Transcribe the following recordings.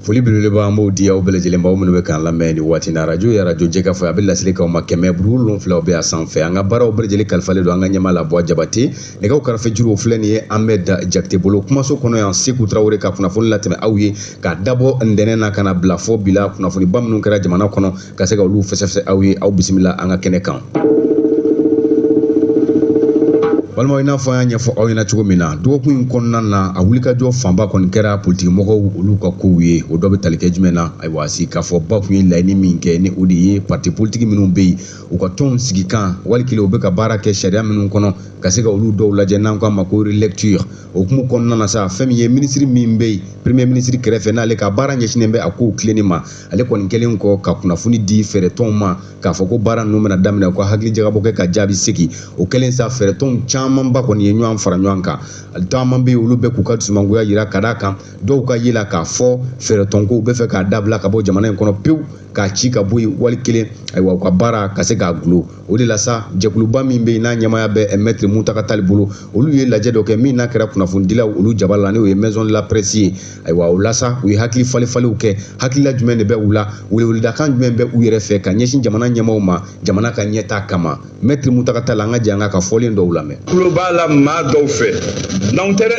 foli belebeleba an b'o di aw bɛɛ lajɛlen ma aw minnu bɛ k'an lamɛn nin waati na arajo ye arajo jɛkafɔ ye a bɛ laseli k'aw ma kɛmɛ buru wolonwula bɛ a sanfɛ an ka baaraw bɛɛ lajɛlen kalifalen don an ka ɲɛmaa la buwa jabate nɛgɛw karafe juruw filɛ nin ye ahmed jakite bolo kumaso kɔnɔ yan seku tarawele ka kunnafoni latɛmɛ aw ye k'a dabɔ ntɛnɛn na ka n'a bila fɔ bi la kunnafoniba minnu kɛra jamana kɔnɔ ka se ka olu fɛsɛfɛsɛ aw ye aw bisimila an ka kɛnɛ kan balimaw i n'a fɔ an y'a ɲɛfɔ aw ɲɛna cogo min na dɔgɔkun in kɔnɔna na a wulikajɔ fanba kɔni kɛra politikimɔgɔw olu ka kow ye o dɔ bɛ tali kɛ jumɛn na ayiwa sigikafɔba tun ye laɲini min kɛ ni o de ye parti politiki minnu bɛ yen u ka tɔnw sigikan wali kelen u bɛ ka baara kɛ sariya minnu kɔnɔ ka se ka olu dɔw lajɛ n'an k'a ma ko relecture o hukumu kɔnɔna na sa fɛn min ye minisiri min bɛ yen premier minisiri kɛrɛfɛ n'ale ka baara ɲɛsinnen bɛ a kow tilenni ma ale kɔni kɛlen kɔ ka kunnafoni di fɛɛrɛtɔnw ma k'a fɔ ko baara ninnu bɛna daminɛ u ka hakilijagabɔ kɛ ka jaabi segin o kɛlen sa fɛɛrɛtɔnw camanba kɔni ye ɲɔgɔn fara ɲɔgɔn kan caman bɛ yen olu bɛ k'u ka dusumangoya jira ka d'a kan dɔw ka ye la k'a fɔ fɛɛrɛtɔnko u bɛ fɛ k'a dabila ka bɔ jamana in kɔnɔ pewu k'a ci ka bɔ yen wali kelen ayiwa u ka baara ka se k'a gulo o de la sa jɛkuluba min bɛ yen n'a ɲɛmaya bɛ eh, mɛtiri muntaga tali bolo olu ye lajɛ dɔ kɛ min n'a kɛra kunnafonidilaw olu jaba la n'o ye maison de la presse ye ayiwa o la sa u ye hakili falenfalenw kɛ hakilila jumɛn de bɛ u la weleweledakan jumɛn bɛ u yɛrɛ fɛ ka ɲɛsin jamana ɲɛmaaw ma jamana ka ɲɛtaa kama mɛtiri muntaga tali an ka jɛ an k'a ka fɔlen dɔw lamɛn tulo b'a la maa dɔw fɛ n'anw tɛ dɛ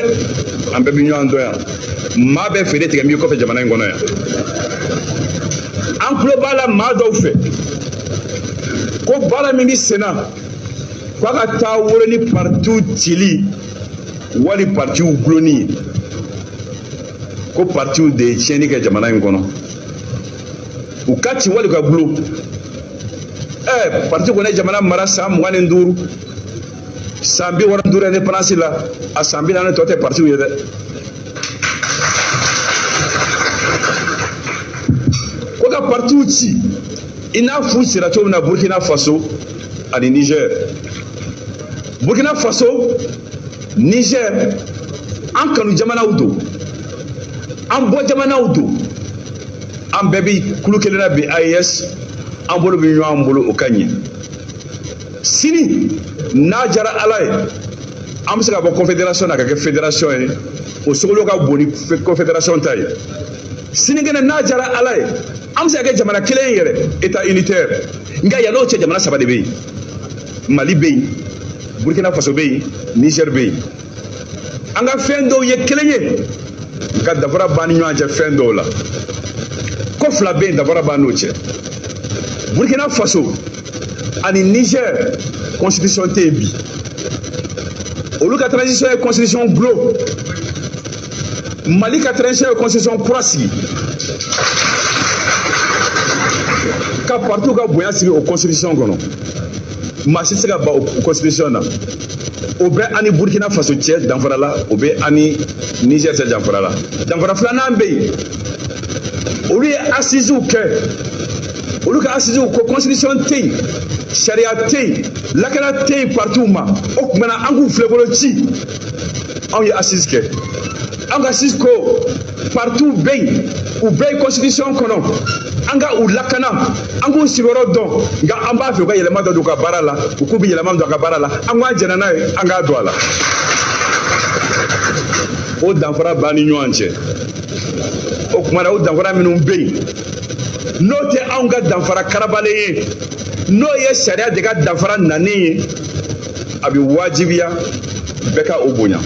an bɛɛ bɛ ɲɔgɔn dɔn yan maa bɛ fɛɛrɛ tigɛ min kɔfɛ jamana in kɔnɔ yan an tulo b'a la maa dɔw fɛ ko baara min bɛ sen na k'a ka taa wolo ni partiw cili wali partiw gulonni ye ko partiw de ye tiɲɛni kɛ jamana in kɔnɔ u ka ci wali ka gulo ɛɛ parti kɔni ye jamana mara san mugan ni duuru san bi wɔɔrɔ duuru indépendance la a san bi naani tɔ tɛ partiw ye dɛ ko ka partiw ci i n'a f'u cira cogo min na burkina faso ani niger burkina faso niger an kanu jamanaw don an bɔ jamanaw don an bɛɛ bi kulu kelen na bi aes an bolo bɛ ɲɔgɔn bolo o ka ɲi sini n'a jara ala ye an bɛ se ka bɔ confédération na ka kɛ fédération ye o sogolo ka bon ni confédération ta ye sinikɛnɛ n'a jara ala ye an bɛ se ka kɛ jamana kelen ye yɛrɛ état unitaire nka yann'o cɛ jamana saba de bɛ yen mali bɛ yen burkina faso bɛ yen niger bɛ yen an ka fɛn dɔw ye kelen ye nka dafara b'an ni ɲɔgɔn cɛ fɛn dɔw la ko fila bɛ yen dafara b'an n'o cɛ burkina faso ani niger constitution tɛ yen bi olu ka transition ye constitution dulon mali ka transition ye constitution kura sigi ka partiw ka bonya sigi o constitution kɔnɔ maa si tɛ se ka ban o constitution na o bɛ an ni burkina faso cɛ danfara la o bɛ an ni niger cɛ danfara la danfara filanan bɛ yen olu ye assisew kɛ olu ka assisew ko constitution tɛ yen sariya tɛ yen lakana tɛ yen partiw ma o tuma na an k'u filɛbolo ci anw ye assise kɛ an ka assise ko partiw bɛ yen u bɛ yen constitution kɔnɔ an ka u lakana an k'u sigiyɔrɔ dɔn nka an b'a fɛ u ka yɛlɛma dɔ don u ka baara la u k'u bɛ yɛlɛma don a ka baara la an k'an jɛnna n'a ye an k'a don a la o danfara b'an ni ɲɔgɔn cɛ o tuma na o danfara minnu bɛ yen n'o tɛ anw ka danfara karabalen ye n'o ye sariya de ka danfara nanen ye a bɛ wajibiya bɛɛ ka o bonya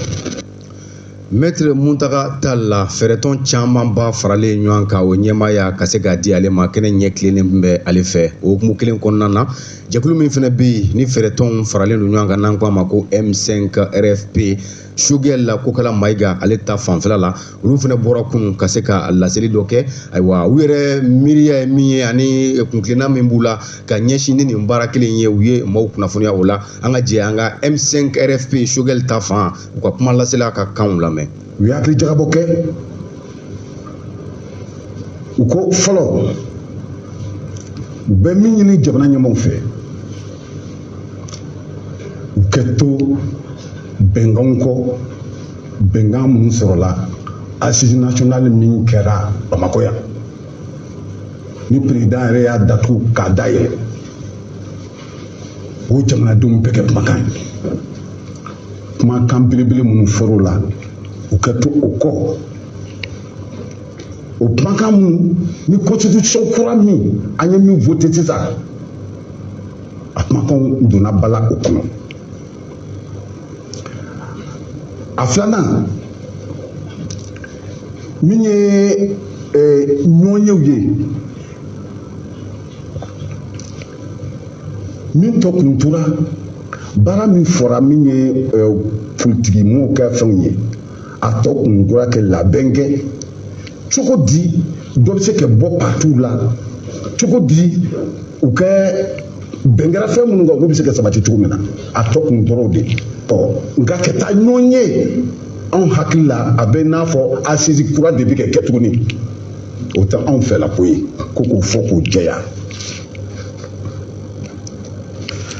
mɛtiri muntaga tali la fɛɛrɛtɔn camanba faralen ɲɔgɔn kan o ɲɛmaaya ka se k'a di ale ma kɛnɛ ɲɛ tilennen bɛ ale fɛ o hukumu kelen kɔnɔna na jɛkulu min fana bɛ yen ni fɛɛrɛtɔnw faralen don ɲɔgɔn kan n'an ko a ma ko m5 rfp sugɛl la kokala mayiga ale ta fanfɛla la olu fana bɔra kunun ka se ka laseli dɔ kɛ ayiwa u yɛrɛ miiriya ye min ye ani kuntilenna min b'u la ka ɲɛsin ni nin baara kelen ye u ye maaw kunnafoniya o la an ka jɛ an ka m5 rfp sugɛl ta fan u ka kumalasela ka kanw lamɛn u ye hakili jagabɔ kɛ u ko fɔlɔ u bɛ min ɲini jamana ɲɛmɔgɔw fɛ u ka to bɛnkanw kɔ bɛnkan minnu sɔrɔla assise nationale min kɛra bamakɔ yan ni perezidan yɛrɛ y'a datugu k'a dayɛlɛ o jamanadenw bɛɛ ka kumakan ye kumakan belebele minnu fɔr'o la u ka to o kɔ o kumakan minnu ni constitution kura min an ye min voté sisan a kumakanw donna bala o kɔnɔ a filanan min ye ɲɔgɔnyew ye min tɔ kun tora baara min fɔra min ye politikimɔgɔw ka fɛnw ye a tɔ kun tora kɛ labɛn kɛ cogo di dɔ bɛ se ka bɔ patiw la cogo di u ka bɛn kɛra fɛn minnu kan olu bɛ se ka sabati cogo min na a tɔ kun tora o de ɔ nka ka taa ɲɔgɔn ye anw hakili la a bɛ n'a fɔ asisi kura de bɛ ka kɛ tuguni o tɛ anw fɛlako ye ko k'o fɔ k'o jɛya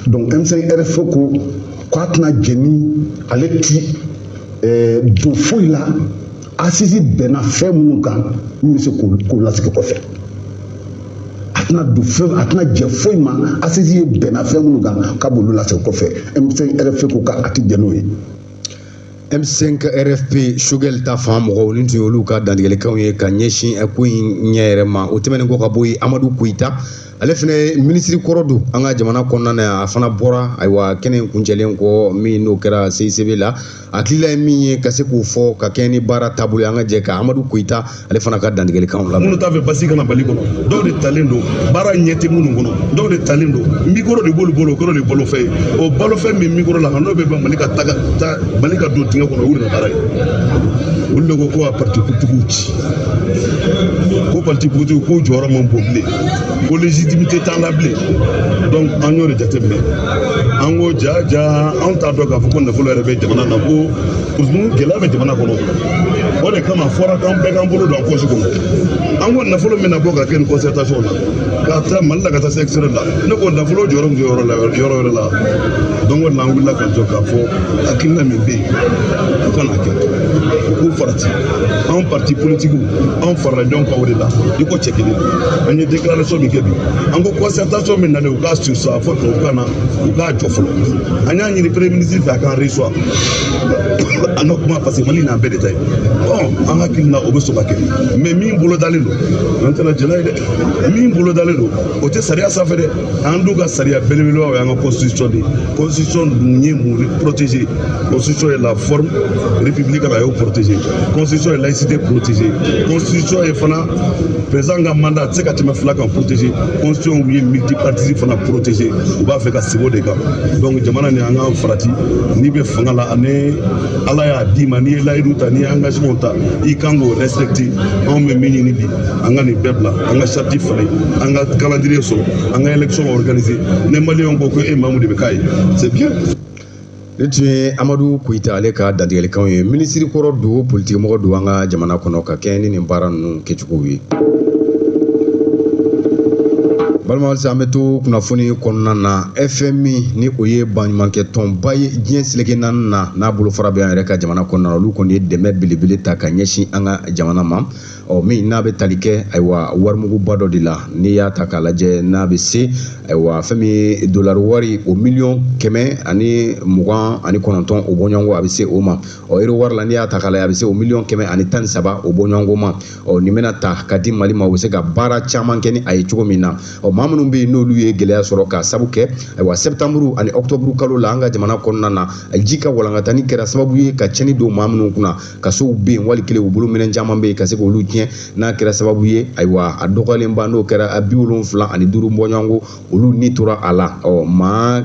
donc M5 RFP ko k'a tɛna jɛ ni ale ti eh, don foyi la asisi bɛnna fɛn minnu kan min bɛ se k'o lasigi kɔfɛ a tɛna don fɛn a tɛna jɛ foyi ma asisi ye bɛnna fɛn minnu kan k'a b'olu lasigi kɔfɛ M5 RFP ko k'a ti jɛ n'o ye. M5 RFP Choguel ta fan mɔgɔw nin tun y'olu ka dantigɛlikanw ye ka ɲɛsin ko in ɲɛ yɛrɛ ma o tɛmɛnen kɔ ka bɔ yen Amadu Koyita ale fana minisiri kɔrɔ don an ka jamana kɔnɔna na yan a fana bɔra ayiwa kɛnɛ in kuncɛlen kɔ min n'o kɛra CICB la a hakilila ye min ye ka se k'o fɔ ka kɛɲɛ ni baara taabolo ye an ka jɛ ka Amadu Koyita ale fana ka dantigɛlikanw lamɛn u t'a fɛ basigi ka na mali kɔnɔ dɔw de talen don baara ɲɛ tɛ minnu kɔnɔ dɔw de talen don mikoro de b'olu bolo o kɔrɔ de balofɛn ye o balofɛn min mikoro la n'o bɛ ban mali ka taga ta mali ka don dingɛ kɔnɔ olu de baara ye olu de ko ko ka parti politigiw ci ko parti politigiw k'u jɔyɔrɔ man bon bilen ko légitimité t'an na bilen donc an y'o de jateminɛ an ko ja ja anw t'a dɔn k'a fɔ ko nafolo yɛrɛ bɛ jamana na ko gɛlɛya bɛ jamana kɔnɔ o de kama fɔra k'an bɛɛ k'an bolo don an pɔsi kɔnɔ an ko nafolo min na bɔ ka kɛ nin concertation na ka taa mali la ka taa se extérieur la ne ko nafolo jɔyɔrɔ min bɛ yɔrɔ la yɔrɔ wɛrɛ la donc o de la an wulila ka jɔ k'a fɔ hakilina min bɛ yen o kana kɛ u k'u farati anw parti politikiw anw farala ɲɔgɔn kan o de la i ko cɛ kelen an ye déclaration min kɛ bi an ko concertation min nalen u k'a surseoir fo tubabukan na u k'a jɔ fɔlɔ an y'a ɲini premier ministre fɛ a k'an reçoit an ka kuma parce que mali nin an bɛɛ de ta ye ɔ an hakili la o bɛ sɔn ka kɛ mais min bolodalen don an tɛna jɛ n'a ye dɛ min bolodalen don o tɛ sariya sanfɛ dɛ an dun ka sariya belebeleba o y'an ka constitution de ye constitution dun ye mun protégé constitution ye la forme républicaine a y'o protégé constitution ye laïcité protégé constitution ye fana président ka mandat tɛ se ka tɛmɛ fila kan protégé constitution ye multipartisme fana protégé u b'a fɛ ka segin o de kan donc jamana nin an k'an farati n'i bɛ fanga la ani ala y'a d'i ma n'i ye layidu ta n'i ye engagement ta i kan k'o respecter anw bɛ min ɲini bi an ka nin bɛɛ bila an ka charte falen an ka calendrier sɔrɔ an ka élection organiser ni maliyɛnw ko ko e mamu de bɛ k'a ye c'est bien nin tun ye amadu koyita ale ka dantigɛlikanw ye minisiri kɔrɔ don politikimɔgɔ don an ka jamana kɔnɔ ka kɛɲɛ ni nin baara ninnu kɛcogow ye balima halisa an bɛ to kunnafoni kɔnɔna na fmi ni o ye baɲumankɛtɔnba ye diɲɛ seleke naani na n'a bolofara bɛ an yɛrɛ ka jamana kɔnɔna na olu kɔni ye dɛmɛ belebele ta ka ɲɛsin an ka jamana ma ɔ min n'a bɛ tali kɛ ayiwa warimuguba dɔ de la n'i y'a ta k'a lajɛ n'a bɛ se ayiwa fɛn min ye dolari wari o miliyɔn kɛmɛ ani mugan ani kɔnɔntɔn o bɔɲɔgɔnko a bɛ se o ma ɔ ero wari la n'i y'a ta k'a lajɛ a bɛ se o miliyɔn kɛmɛ ani tan ni saba o bɔɲɔgɔnko ma ɔ nin bɛna ta ka di mali ma u bɛ se ka baara caman kɛ ni a ye cogo min na ɔ maa minnu bɛ yen n'olu ye gɛlɛya sɔrɔ ka sabu kɛ ayiwa sɛtanburu ani ɔkutɔburu kalo la an ka jamana kɔnɔna na ji ka walankatani kɛra sababu ye ka cɛnni don maa minnu kunna ka sow bɛ yen wali kelen u bolominɛn caman bɛ yen ka se k'olu tiɲɛ n'a kɛra sababu ye ayiwa a dɔgɔyalen ba n'o kɛra maa bi wolonwula ani duuru bɔɲɔgɔnko olu ni tora a la ɔ maa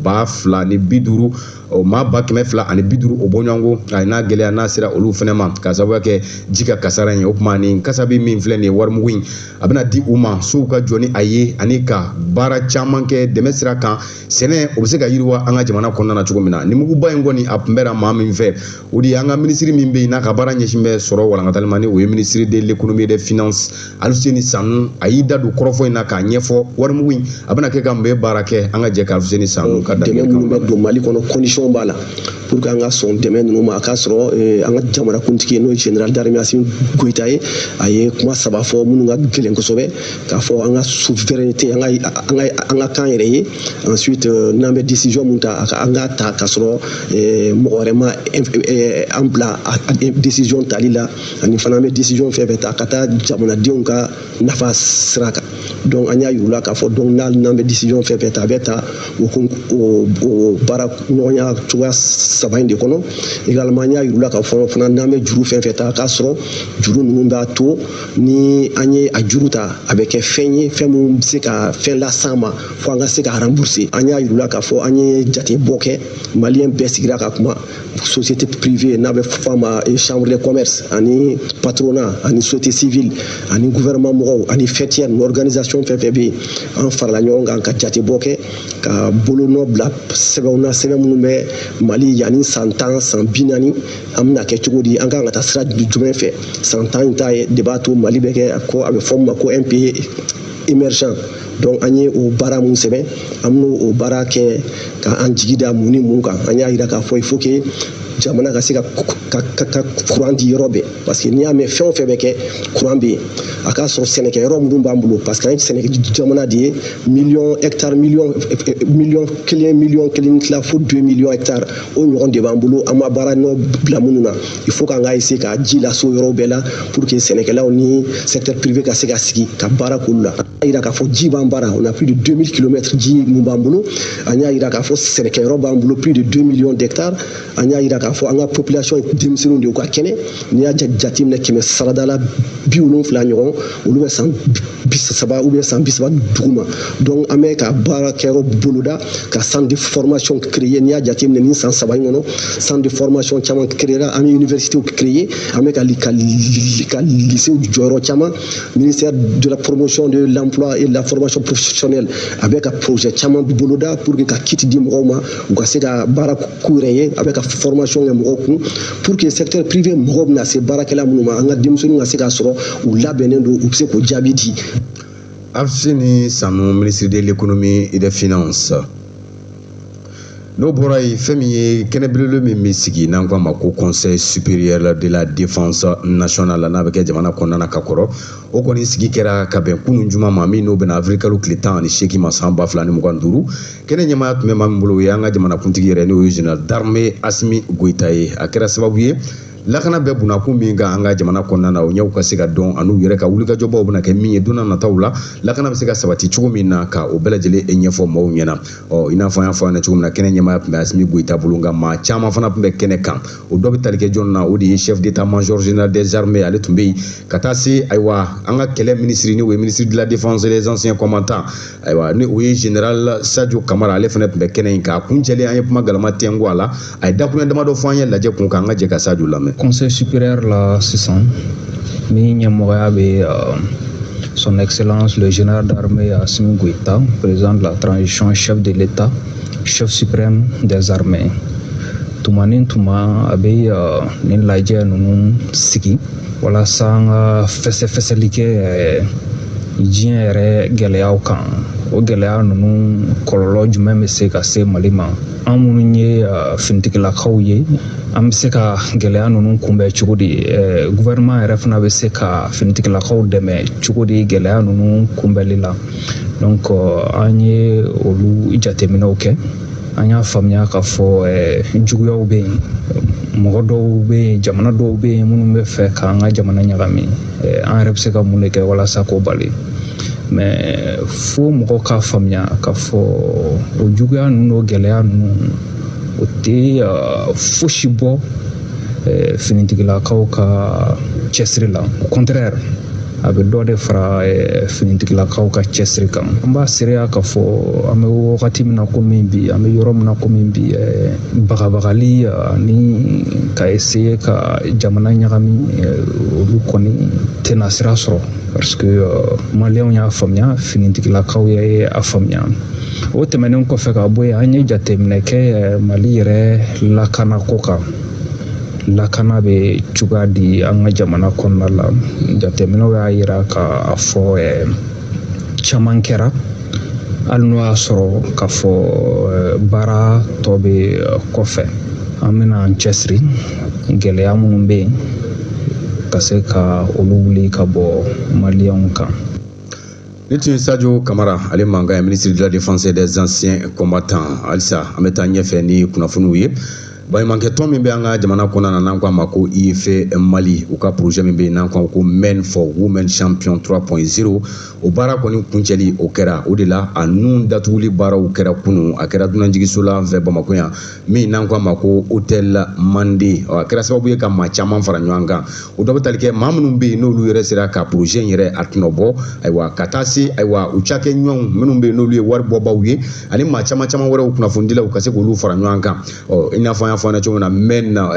ba fila ni bi duuru o maa ba kɛmɛ fila ani bi duuru o bɔɲɔgɔnko a n'a gɛlɛya n'a sera olu fana ma ka sababu kɛ ji ka kasara ye o tuma nin kasabi min filɛ nin ye warimugu in a bɛna di u ma sow ka jɔ ni a ye ani ka baara caman kɛ dɛmɛ sira kan sɛnɛ o bɛ se ka yiriwa an ka jamana kɔnɔna na cogo min na nin muguba in kɔni a kunbɛra maa min fɛ o de ye an ka minisiri min bɛ yen n'a ka baara ɲɛsin bɛ sɔrɔ walankatali ma ni o ye minisiri de l'économie et des finances Aluseni Sanu a y'i da don kɔrɔfɔ in na k'a ɲɛfɔ warimugu in a bɛna kɛ ka mun bɛ baara kɛ an ka jɛ ka Aluseni Sanu ka dɛmɛ minnu bɛ don Mali kɔnɔ condition b'a la pour que an ka sɔn dɛmɛ ninnu ma a k'a sɔrɔ eh, an ka jamanakuntigi n'o ye général d'armée Assimi Goïta ye a ye kuma saba fɔ minnu ka gɛlɛn kosɛbɛ k'a fɔ an ka souveraineté an ka an ka an ka k'an yɛrɛ ye ensuite euh, n'an bɛ décision min ta an k'a ta k'a sɔrɔ euh, mɔgɔ wɛrɛ ma euh, an bila décision tali la ani fana an bɛ décision fɛn fɛn ta ka taa jamanadenw ka nafa sira kan donc an y'a yir'u la k'a fɔ donc n'an bɛ décision fɛn fɛn ta a bɛ ta o baara ɲɔgɔnya cogoya saba in de kɔnɔ également an y'a yir'u la k'a fɔ fana n'an bɛ juru fɛn fɛn ta k'a sɔrɔ juru ninnu b'a to ni an ye a juru ta a bɛ kɛ fɛn ye fɛn min bɛ se ka fɛn las'an ma fo an ka se ka rembourser an y'a yir'u la k'a fɔ an ye jatebɔ kɛ maliyɛn bɛɛ sigira ka kuma société privée n'a bɛ fɔ a ma eh, chambre de commerce ani patronat ani société civile ani gouvernement mɔgɔw ani faîtière ni organisation fɛn fɛn bɛ yen an farala ɲɔgɔn kan ka jatebɔ kɛ ka bolonɔ bila sɛbɛnw na sɛbɛn minnu bɛ mali yanni san tan san bi naani an bɛna kɛ cogo di an kan ka taa sira jumɛn fɛ san tan in ta ye de b'a to mali bɛ kɛ ko a bɛ fɔ min ma ko un pays émergent donc an ye o baara mun sɛbɛn an bɛn'o o baara kɛ ka an jigi da mun ni mun kan an y'a yira k'a fɔ il faut que jamana ka se ka ka kuran di yɔrɔ bɛɛ parce que n'i y'a mɛn fɛn o fɛn bɛ kɛ kuran bɛ yen a k'a sɔrɔ sɛnɛkɛ yɔrɔ minnu b'an bolo parce que an ye sɛnɛkɛ jamana de ye miliyɔn hɛkitari miliyɔn miliyɔn kelen miliyɔn kelen ni tila fo deux miliyɔn hɛkitari o ɲɔgɔn de b'an bolo an ma baara nɔ bila minnu na il faut k'an ka essayer ka ji lase o yɔrɔw bɛɛ la pour que sɛnɛkɛlaw ni secteur privé ka se ka sigi ka baara k'olu la an y'a yira k'a fɔ ji b'an bara on a plus de 2000 kilomètres ji mun b'an bolo an y'a yira k'a fɔ sɛnɛkɛyɔrɔ b'an bolo plus de 2 millions d'hectares an y'a yira k'a fɔ an ka population ye denmisɛnninw de ye u ka kɛnɛ n'i y'a jateminɛ kɛmɛ sarada la bi wolonfila ɲɔgɔn olu bɛ san bi saba u bɛ san bi saba duguma donc an bɛ ka baarakɛyɔrɔ boloda ka centre de formation créer n'i y'a jateminɛ nin san saba in kɔnɔ centre de formation caman créera an bɛ université créer an bɛ ka ka ka lycée jɔ yɔrɔ caman ministère de la promotion de l'emploi et de la formation professionnelle a bɛ ka projet caman boloda pour que ka kit di mɔgɔw ma u ka se ka baara k'u yɛrɛ ye a bɛ ka formation kɛ mɔgɔw kun pour que secteur privé mago bɛna se baarakɛla minnu ma an ka denmisɛnninw ka se ka sɔrɔ u labɛnnen don u bɛ se k'o jaabi di aluseni sanu ministre de l'économie et des finances n'o bɔra yen fɛn min ye kɛnɛ belebele min bɛ sigi n'an k'a ma ko conseil supérieur de la défense nationale n'a bɛ kɛ jamana kɔnɔna na ka kɔrɔ o kɔni sigi kɛra ka bɛn kunun juma ma min n'o bɛnna avril kalo tile tan ani seegin ma san ba fila ni mugan ni duuru kɛnɛ ɲɛmaaya tun bɛ maa min bolo o y'an ka jamanakuntigi yɛrɛ n'o ye général d'armée asimi goyita ye a kɛra sababu ye lakana bɛ bunakun min kan an ka jamana kɔnɔna na o ɲɛw ka se ka dɔn an'u yɛrɛ ka wulikajɔbaw bɛna kɛ min ye don nataw la lakana bɛ se ka sabati cogo min na ka o bɛɛ lajɛlen ɲɛfɔ maaw ɲɛna ɔ i n'a fɔ an y'a fɔ a ɲɛna cogo min na kɛnɛ ɲɛmaaya tun bɛ asimi goyita bolo nka maa caman fana tun bɛ kɛnɛ kan o dɔ bɛ tali kɛ jɔn na o de ye chef d'état-major général des armées ale tun bɛ yen ka taa se ayiwa an ka kɛlɛ minisiri n'o ye ministre de la défense et des anciens combattants ayiwa ni o ye général sajo kamara ale fana tun bɛ kɛnɛ in kan a kuncɛlen an ye kuma galama tɛnku a la a ye dakuruɲɛ damadɔ fɔ an ye lajɛ kun kan an ka jɛ ka sajo lamɛn conseil supérieur la sisan min ɲɛmɔgɔya bɛ euh, son excellence le général d'armée asimi goita président de la transition chef de l'état chef suprême des armées tuma ni tuma a bɛ euh, nin lajɛ ninnu sigi walasa an ka fɛsɛfɛsɛli kɛ diɲɛ yɛrɛ gɛlɛyaw kan o gɛlɛya ninnu kɔlɔlɔ jumɛn bɛ se ka se mali ma an minnu ye finitigilakaw ye an bɛ se ka gɛlɛya ninnu kunbɛn cogo di gouvernement yɛrɛ fana bɛ se ka finitigilakaw dɛmɛ cogo di gɛlɛya ninnu kunbɛnli la donc an ye olu jateminɛw kɛ an y'a faamuya k'a fɔ juguyaw bɛ yen mɔgɔ dɔw bɛ yen jamana dɔw bɛ yen minnu bɛ fɛ k'an ka jamana ɲagami an yɛrɛ bɛ se ka mun de kɛ walasa k'o bali mais fo mɔgɔ k'a faamuya k'a fɔ o juguya ninnu o gɛlɛya ninnu o tɛ fosi bɔ finitigilakaw ka cɛsiri la au contraire a bɛ dɔ de fara eh, finitigilakaw ka cɛsiri kan an b'a seereya k'a fɔ an bɛ wagati min na komi bi an bɛ yɔrɔ min na komi bi eh, bagabagali ani ka essayer ka jamana ɲagami eh, olu kɔni tɛna sira sɔrɔ parce que maliyɛnw y'a faamuya finitigilakaw ye a faamuya o tɛmɛnen kɔfɛ ka bɔ yen an ye jateminɛ kɛ mali yɛrɛ lakana ko kan lakana bɛ cogoya di an ka jamana kɔnɔna la jateminɛw y'a yira ka a fɔ caman kɛra hali n'o y'a sɔrɔ k'a fɔ baara tɔ bɛ kɔfɛ an bɛna an cɛsiri gɛlɛya minnu bɛ yen ka se ka olu wuli ka bɔ maliyɛnw kan nin tun ye sajo kamara ale mankan ye ministre de la défense des anciens combattants halisa an bɛ taa ɲɛfɛ ni kunnafoniw ye Baɲumankɛ tɔn min bɛ an ka jamana kɔnɔna na n'an k'a ma ko IFE Mali u ka projet min bɛ yen n'an k'a ko Men for Women Champion 3.0 o baara kɔni kuncɛli o kɛra o de la a nun datuguli baaraw kɛra kunun a kɛra dunanjigiso la an fɛ Bamakɔ yan min n'an k'a ma ko Hôtel Mande a kɛra sababu ye ka maa caman fara ɲɔgɔn kan o dɔ bɛ tali kɛ maa minnu bɛ yen n'olu yɛrɛ sera ka projet in yɛrɛ a tɔnɔbɔ ayiwa ka taa se ayiwa u cakɛɲɔgɔnw minnu bɛ yen n'olu ye wari bɔbaaw ye ani maa caman caman wɛrɛw kunnafonidilaw ka se k'olu fara ɲɔgɔn kan ɔ i n'a fɔ an y'a fɔ ɲɛna cogo min na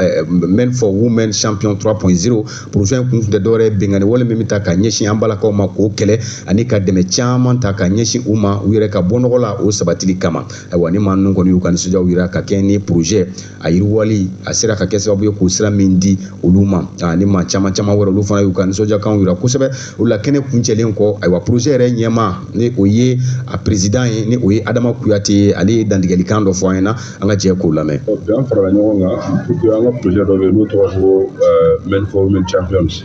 men for women champion 3.0 projet in kun tɛ dɔwɛrɛ ye binkanni wale min bɛ ta ka ɲɛsin an balakaw ma k'o kɛlɛ ani ka dɛmɛ caman ta ka ɲɛsin u ma u yɛrɛ ka bɔ nɔgɔ la o sabatili kama ayiwa ni maa ninnu kɔni y'u ka nisɔndiyaw jira ka kɛ ni projet a yiriwali a sera ka kɛ sababu ye k'o sira min di olu ma ni maa caman caman wɛrɛ olu fana y'u ka nisɔndiyakanw jira kosɛbɛ o la kɛnɛ kuncɛlen kɔ ayiwa projet yɛrɛ ɲɛmaa ni o ye a président ye ni o ye adama kuyate ye ale ye dantigɛlikan dɔ fɔ an ɲɛna an ka jɛ k'o lamɛn bi an farala ɲɔgɔn kan puisque an ka projet dɔ bɛ yen n'o tɔgɔ ko euh, men for women champions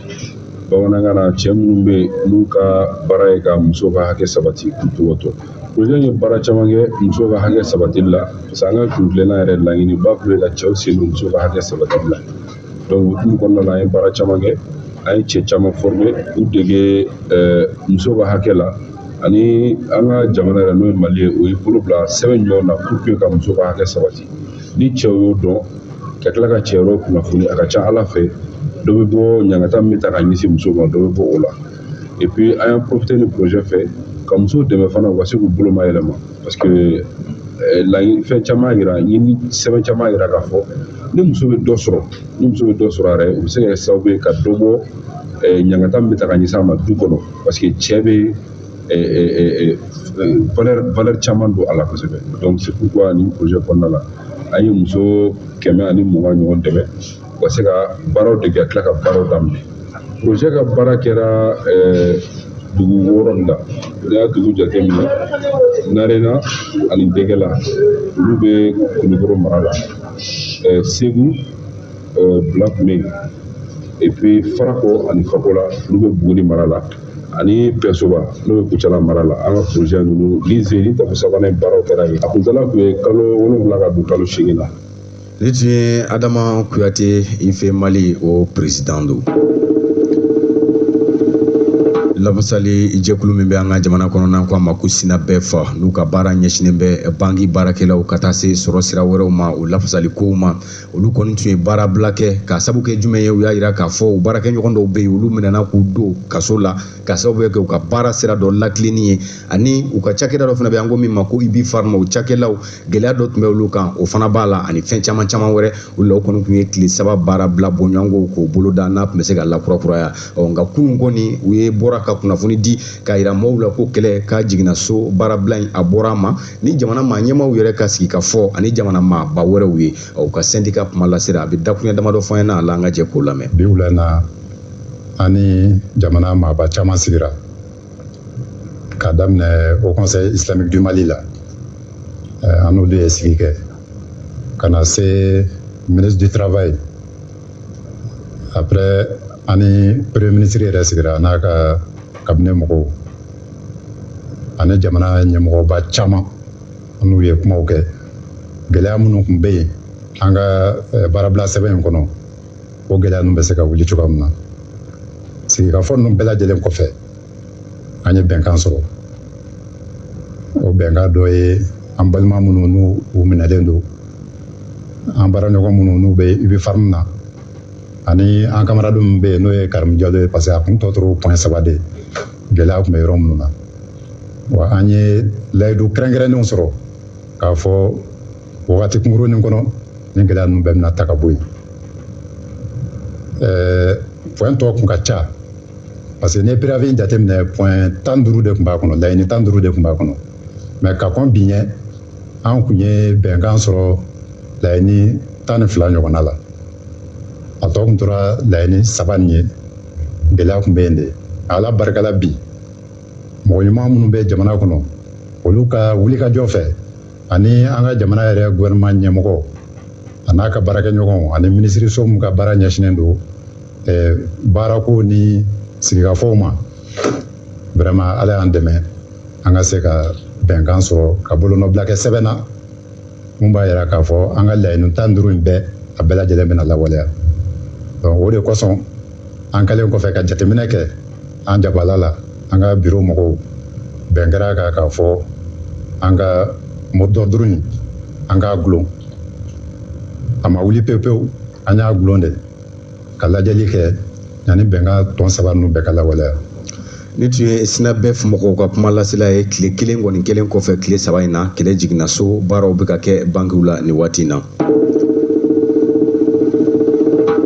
bamanankan na cɛ minnu bɛ yen n'u ka baara ye ka muso ka hakɛ sabati k'u cogo to projet ye baara caman kɛ muso ka hakɛ sabatili la parce que an ka kuntilenna yɛrɛ laɲiniba tun ye ka cɛw sen don muso ka hakɛ sabatili la donc o kɔnɔna la an ye baara caman kɛ an ye cɛ caman former k'u dege eh, muso ka hakɛ la ani an ka jamana yɛrɛ n'o ye mali ye o ye bolo bila sɛbɛn ɲɔgɔn na pour que ka muso ka hakɛ sabati ni cɛw y'o dɔn ka tila ka cɛ wɛrɛ kunnafoni a ka ca ala fɛ dɔ bɛ bɔ ɲangata min bɛ ta ka ɲɛsin muso ma dɔ bɛ bɔ o la et puis an y'an profité nin projet fɛ ka musow dɛmɛ fana u ka se k'u bolo mayɛlɛma parce que eh, laɲini fɛn caman yira ɲini sɛbɛn caman yira k'a fɔ ni muso bɛ dɔ sɔrɔ ni muso bɛ dɔ sɔrɔ a yɛrɛ o bɛ se ka kɛ sababu ye ka dɔ bɔ eh, ɲangata min bɛ taa ka ɲɛsin a ma du kɔnɔ parce que cɛ bɛ eh, eh, eh, eh, valeur valeur caman don a la kosɛbɛ donc c'est pourquoi nin projet kɔnɔna la an ye muso kɛmɛ ani mugan ɲɔgɔn dɛmɛ u ka se ka baaraw dege ka tila ka baaraw daminɛ projet ka baara kɛra eh, dugu wɔɔrɔ nin na n'i y'a dugu jate minɛ narena ani degela olu bɛ kulukɔrɔ mara la eh, segu eh, bila tun bɛ yen et puis farako ani fakola olu bɛ buguni mara la ani pɛsoba n'o bɛ kucala mara la an ka projet ninnu ni zeni tafe sabanan baaraw kɛra yen a kuntala tun ye kalo wolonwula ka don kalo seegin na Nin tun ye adama kuyate ife mali o président don lafasali jɛkulu min bɛ an ka jamana kɔnɔ n'an ko a ma ko synabef n'u ka baara ɲɛsinnen bɛ banki baarakɛlaw ka taa se sɔrɔ sira wɛrɛw ma o lafasali kow ma olu kɔni tun ye baarabila kɛ k'a sabu kɛ jumɛn ye u y'a jira k'a fɔ u baarakɛɲɔgɔn dɔw bɛ yen olu minɛna k'u don kaso la k'a sababu kɛ u ka baara sira dɔ latilenni ye ani u ka cakɛda dɔ fana bɛ an ko min ma ko ubipharm o cakɛlaw gɛlɛya dɔ tun bɛ olu kan o fana b'a la ani fɛn caman caman wɛrɛ olu la o kɔni tun ye tile saba baara bila bɔɲɔgɔnko k'o boloda n'a tun bɛ se ka lakurakuraya ɔ nka kunun kɔni u ye bɔra ka kunnafoni di k'a yira maaw la ko kɛlɛ ka jiginna so baarabila in a bɔra a ma ni jamana maa ɲɛmaaw yɛrɛ ka sigikafɔ ani jamana maaba wɛrɛw ye u ka sɛndika kumalasela a bɛ dakuruɲɛ damadɔ fɔ an ɲɛna a la an ka jɛ k'o lamɛn bi wula in na an ni jamana maaba caman sigira k'a daminɛ haut conseil islamique du mali la eh, an n'olu ye sigi kɛ ka na se ministre du travail après an ni premier ministre yɛrɛ sigira n'a ka cabinet mɔgɔw ani jamana ɲɛmɔgɔba caman an n'u ye kumaw kɛ gɛlɛya minnu tun bɛ yen an ka eh, baarabila sɛbɛn in kɔnɔ o gɛlɛya ninnu bɛ se ka wuli cogoya min na sigikafɔ ninnu bɛɛ lajɛlen kɔfɛ an ye bɛnkan sɔrɔ o bɛnkan dɔ ye an balima minnu n'u minɛlen don an baaraɲɔgɔn minnu n'u bɛ ubipharm na ani an kamaradu min bɛ yen n'o ye karimu jalo ye parce que a kun tɔ tora point saba de gɛlɛya tun bɛ yɔrɔ minnu na wa an ye layidu kɛrɛnkɛrɛnnenw sɔrɔ k'a fɔ wagati kunkurunin kɔnɔ ni gɛlɛya ninnu bɛɛ bɛna ta ka bɔ yen point tɔ kun ka ca parce que n'i ye préavis jateminɛ point tan duuru de tun b'a kɔnɔ laɲini tan duuru de tun b'a kɔnɔ mais ka kɔn bi ɲɛ an kun ye bɛnkan sɔrɔ laɲini tan ni fila ɲɔgɔnna la a tɔ kun tora laɲini saba nin ye gɛlɛya kun bɛ yen de ala barikala bi mɔgɔ ɲuman minnu bɛ jamana kɔnɔ olu ka wulikajɔ fɛ ani an ka jamana yɛrɛ gouvernement ɲɛmɔgɔ a n'a ka baarakɛɲɔgɔnw ani minisiriso min ka baara ɲɛsinnen don eh, baarako ni sigikafɔw ma vraiment ala y'an dɛmɛ an ka se ka bɛnkan sɔrɔ ka bolonɔbila kɛ sɛbɛn na mun b'a yira k'a fɔ an ka laɲini tan duuru in bɛɛ a bɛɛ lajɛlen bɛna lawaleya donc o de kosɔn an kɛlen kɔfɛ ka jateminɛ kɛ an jabala la an ka biro mɔgɔw bɛn kɛra kan k'a fɔ an ka mot d'ordre in an k'a gulon a ma wuli pewu pewu an y'a gulon de ka lajɛli kɛ yanni bɛnkan tɔ saba ninnu bɛɛ ka lawaleya nin tun ye synabef mɔgɔw ka kuma lasela ye tile kelen kɔni kɛlen kɔfɛ tile saba in na kɛlɛ jiginna so baaraw bɛ ka kɛ bankiw la nin waati in na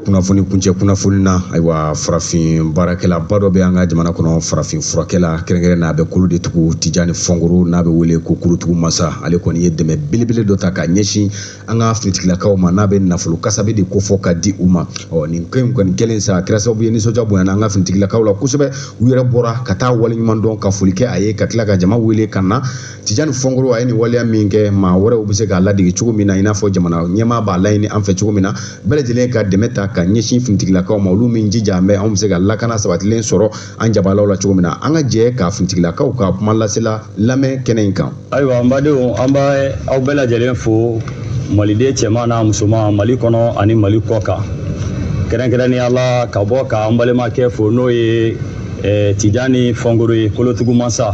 kunnafoni kuncɛ kunnafoni na ayiwa farafin baarakɛlaba dɔ bɛ an ka jamana kɔnɔ farafin furakɛla kɛrɛnkɛrɛn n'a bɛ kolo de tugu tijani fɔngoro n'a bɛ wele ko kolotugu masa ale kɔni ye dɛmɛ belebele dɔ ta ka ɲɛsin an ka finitigilakaw ma n'a bɛ nafolo kasabi de kofɔ ka di u ma ɔ nin ko in kɔni kɛlen sa a kɛra sababu ye nisɔndiya bonyana an ka finitigilakaw la kosɛbɛ u yɛrɛ bɔra ka taa waleɲuman dɔn ka foli kɛ a ye ka tila ka jama wele ka na tijani fɔngoro a ye nin waleya min kɛ maa wɛrɛw bɛ se k'a ladege cogo min na i n'a fɔ jamana ɲɛmaa b'a laɲini an fɛ cogo min na bɛɛ lajɛlen ka dɛmɛ ta ka ɲɛsin finitigilakaw ma olu min jija anw bɛ se ka lakana sabatilen sɔrɔ an jabalaw la cogo min na an ka jɛ ka finitigilakaw ka kuma lasela lamɛn kɛnɛ in kan ayiwa an badenw an bɛ aw bɛɛ lajɛlen fo maliden cɛman n'a musoman mali kɔnɔ ani mali kɔ kan kɛrɛnkɛrɛnnenya la ka bɔ ka an balimakɛ fo n'o ye eh, tijani fɔngoro ye kolotugu mansa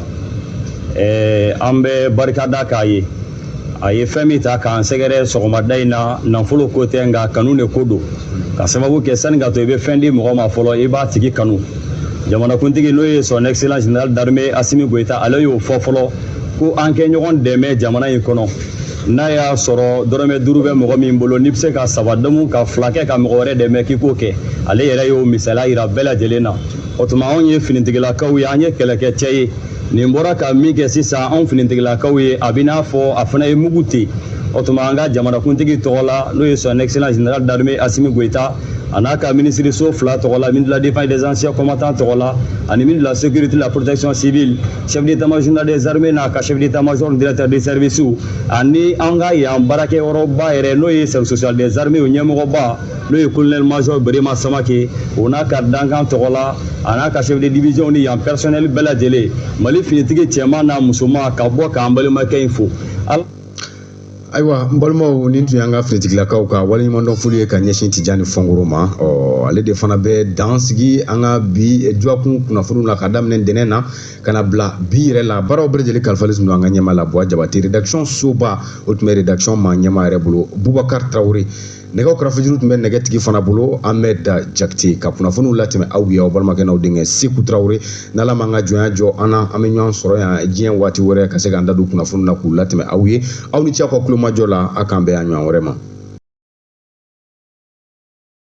eh, an bɛ barikada k'a ye a ye fɛn min ta k'an sɛgɛrɛ sɔgɔmada in na nafolo ko tɛ nka kanu de ko don ka sababu kɛ sani ka to i bɛ fɛn di mɔgɔ ma fɔlɔ i b'a tigi kanu jamanakuntigi n'o ye son excellence général d'armée asimi goyita ale y'o fɔ fɔlɔ ko an ka ɲɔgɔn dɛmɛ jamana in kɔnɔ n'a y'a sɔrɔ dɔrɔmɛ duuru bɛ mɔgɔ min bolo n'i bɛ se ka saba dɔmu ka fila kɛ ka mɔgɔ wɛrɛ dɛmɛ k'i k'o kɛ ale yɛrɛ y'o misaliya yira bɛɛ lajɛlen na o tuma anw ye finitigilakaw ye an ye kɛlɛkɛcɛ ye nin bɔra ka min kɛ sisan anw finitigilakaw ye a bɛ n'a fɔ a fana ye mugu ten o tuma an ka jamanakuntigi tɔgɔ la n'o ye son excellence général d'armée asimi goyita a n'a ka minisiriso fila tɔgɔ la ministre de la défense des anciens combattants tɔgɔ la ani ministre de la sécurité la protection civile chef d'état major des armées n'a ka chef d'état major directeur des services ani an ka yan baarakɛyɔrɔba yɛrɛ n'o ye service social des armées ɲɛmɔgɔba n'o ye colonel major berema samake o n'a ka dankan tɔgɔ la a n'a ka chef de division ni yan personnel bɛɛ lajɛlen mali finitigi cɛman n'a musoman ka bɔ k'an balimakɛ in fo ayiwa n balimaw nin tun y'an ka finitigilakaw ka waleɲumandɔn foli ye ka ɲɛsin tijani fɔnkoro ma ɔ ale de fana bɛ dan sigi an ka bi dɔgɔkun kunnafoniw la ka daminɛ ntɛnɛn na ka na bila bi yɛrɛ la baaraw bɛɛ lajɛlen kalifalen tun don an ka ɲɛmaa la buwa jabate rédaction soba o tun bɛ rédaction ma ɲɛmaa yɛrɛ bolo bubakar tarawele nɛgɛw karafejuru tun bɛ nɛgɛtigi fana bolo ahmed jakite ka kunnafoniw latɛmɛ aw ye aw balimakɛ n'aw denkɛ seku tarawele n'ala m'an ka jɔnya jɔ an na an bɛ ɲɔgɔn sɔrɔ yan diɲɛ waati wɛrɛ ka se k'an da don kunnafoniw la k'u latɛmɛ aw ye aw ni ce aw ka kulomajɔ la a k'an bɛn a ɲɔgɔn wɛrɛ ma